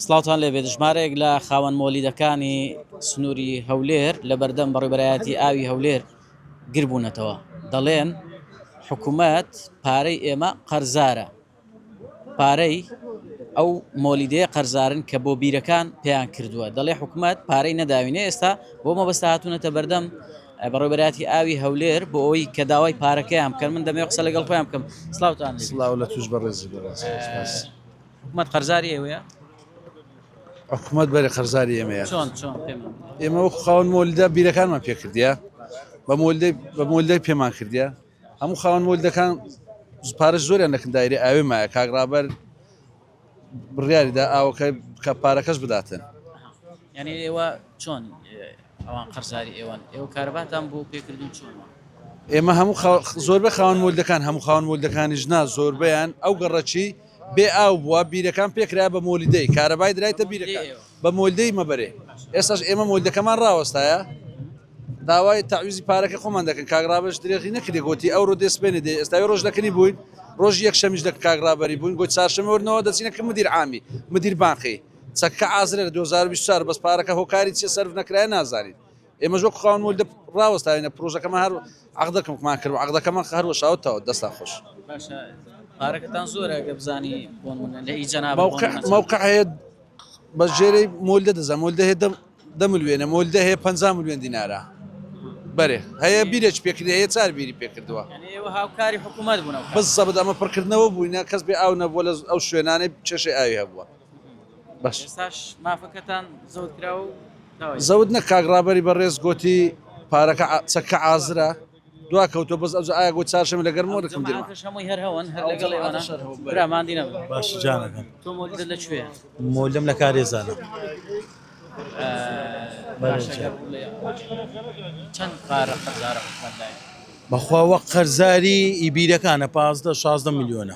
سڵاوتان لێ بێت ژمارەیەک لە خاوەن مۆلیدەکانی سنووری هەولێر لە بەردەم بەڕێبەرایەتی ئاوی هەولێر گربوونەتەوە دەڵێن حکوومەت پارەی ئێمە قەرزارە پارەی ئەو مۆلیدەیە قەرزارن کە بۆ بیرەکان پێیان کردووە دەڵێ حکوومەت پارەی نەداوینە ئێستا بۆ مەبەستا هاتوونەتە بەردەم بەڕێبەراتی ئاوی هەولێر بۆ ئەوی کە داوای پارەکەیان بکەن من دەمێ قسە لەگەڵ خۆیان بکەم سلااوان سلااو لە توش بەڕێزی بەڕێز. حکومەت قەرزاری ئێوەیە؟ حکومەت بەرە قەرزاری ئێمەیە ئێمە وەکو خاون مۆلدا بیرەکانمان پێکردە بە بە مۆلدای پێمان کردە هەموو خاون مۆلدەکان پارە زۆریان لەکن دایری ئاوێ مایە کاگرابەر بڕیاریدا ئاوەکە کە پارەکەش بداتن یعنی ئێوە چۆن ئەوان قەرزاری ئێوەن ئێوە کارباتان بۆ پێکردن چۆن ئێمە هەموو زۆربە خاون مۆلدەکان هەموو خاون مۆلدەکانی ژنا زۆربیان ئەو گەڕەکی بێ ئاو بووە بیرەکان پێکرایە بە مۆلیدەی کارەبای درایتە بیرەکان بە مۆلدەی مەبەرێ ئێستاش ئێمە مۆلدەکەمان ڕاوەستایە داوای تاویزی پارەکە خۆمان دەکەن کاگرابش درێغی نەکردێ گوتی ئەو ڕۆ دەسپێنێ دێ ئێستای ڕۆژ دەکەنی بووین ڕۆژ یەک شەمیش دەک کاگرابەری بووین گوت چارشەمەوەرنەوە دەچینە کە مدیر عامی مدیر بانقی چەککە ئازرێ لە 2024 بەس پارەکە هۆکاری چیە سەرف نەکرای نازانین ئێمەش وەک خاوەن مۆل دەپ ڕاوەستاوینە پرۆژەکەمان هەر عەقدەکەمکمان کرد و عەقدەکەمان هەر وەشاوت تاوە دەستان خۆش. باشە پارەکەتان زۆرە گە بزانی بۆن منە لە ئی جەناب موقع موقع هەیە بە ژێرەی مۆل دە دەزە مۆل دەهێ دەم دە ملوێنە مۆل دەهەیە پ ملوێن دینارە بەێ هەیە بیرێک پێکردی هەیە چار بیری پێکردووە یعنی ئێوە هاوکاری حکوومەت بوونە بزەبت ئەمە پڕکردنەوە بووینە کەس بێ ئاو نەبووە لە ئەو شوێنانەی چێشەی ئاوی هەبووە زەوت نە کاک ڕابەری بەڕێز گۆتی پارەکە چەککە ئازرە دوا کەوتۆ بەس ئەوجا ئایا گۆت چارشم لەگەر مۆ دەکەم مۆلم لە کارێزانە بەخوا وەک قەرزاری ئیبیرەکانە پازدە شازدە ملیۆنە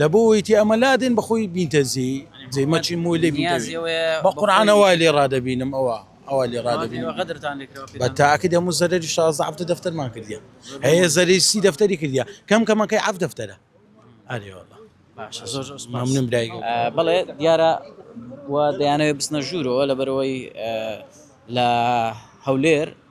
لە بۆ وەی تێ ئەمە لادێن بە خۆی بینتە زی جێ مەچی مۆی لێ نیازی بە قورعانە وای لێ ڕادەبینم ئەوە ئەوە لێ ڕادەبین غەدرتان بە تاکە دەم و زەرری شازە هەفتە دەفتەرمان کردیە هەیە زەری سی دەفتەری کردیا کەم کەمەکەی عف دەفتەرە ئەرێوەڵە مامنم برای بڵێ دیارە و دەیانەوێت بچنە ژوورەوە لەبەرەوەی لە هەولێر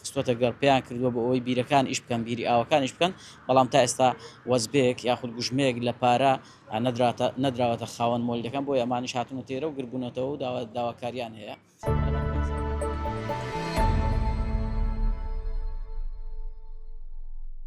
خستووەتە گەڕ، پێیان کردووە بۆ ئەوەی بیرەکان ئیش بکەن، بیری ئاوەکان ئیش بکەن، بەڵام تا ئێستا وەزبێک یاخود گوژمەیەک لە پارە نەدراتە نەدراوەتە خاوەن مۆلیدەکان، بۆیە ئەمانیش هاتوونەتە ئێرە و گرد بوونەتەوە و داوا داواکارییان هەیە.